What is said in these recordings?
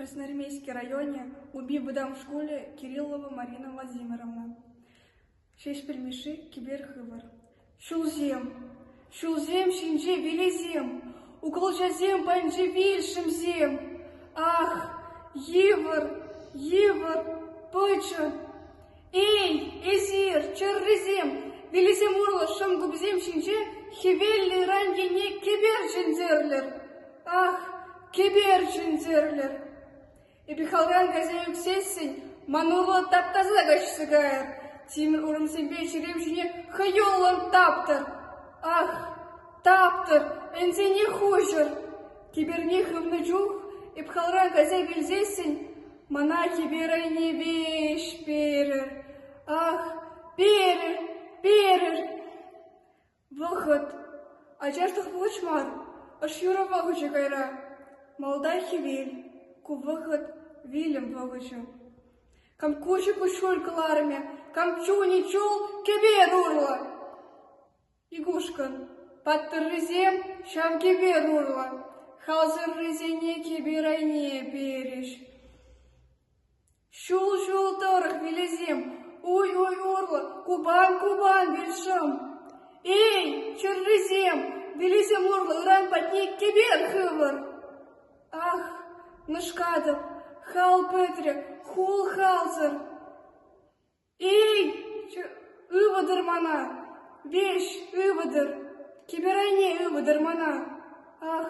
Красноармейски районӗ Упи вӑтам шкулӗ Кириллова Марина Владимировна, Ҫеҫпӗл Мишши кӗпер хывӑр. Ҫулсем, ҫулсем ҫинче вилесем, укӑлчасем патӗнче вилшӗмсем. Ах, йывӑр, йывӑр, пычӑн! Эй, эсир, чӗррисем, вилӗсем урлӑ шӑнкупсем ҫинче хӗвеллӗ ыран енне кӗпер чӗнтерлӗр! Ах, кӗпер чӗнтерлӗр! Эпир халран кайса ӳксессӗн ман урлӑ тап-таса каҫса кайӑр, тимӗр урӑмсемпе чӗрем ҫине хӑюллӑн таптӑр! Ах, таптӑр, ӗнсене хуҫӑр! Кӗперне хывнӑ чух эп халран кайса килсессӗн Мана чиперӗ Невеҫ перӗр, ах, перӗр, перӗр! Вӑхӑт, ачашлӑх пулӑч мар, ӑш юрӑ пахӑчӗ кайра. Малтан хӗвел, ку вӑхӑт вилӗм пахӑчӗ. Кам куҫӗ куҫҫуль кӑларӑмӗ, кам чунӗ чул кӗпе урлӑ. Игушкӑн паттӑррисем ҫав кӗпер урлӑ халсӑррисене кӗпер айне перӗҫ. Ҫул-ҫул тӑрӑх вилесем уй-уй урлӑ купан-купан вилшӑм. Эй, чӗррисем, вилесем урлӑ ыран патне кӗпер хывӑр! Ах, нӑшкатӑп, хал пӗтрӗ, хул халсӑр! Эй, ывӑтӑр мана, веҫ, ывӑтӑр, кӗпер айне ывӑтӑр мана, ах,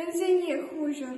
ӗнсене хуҫӑр!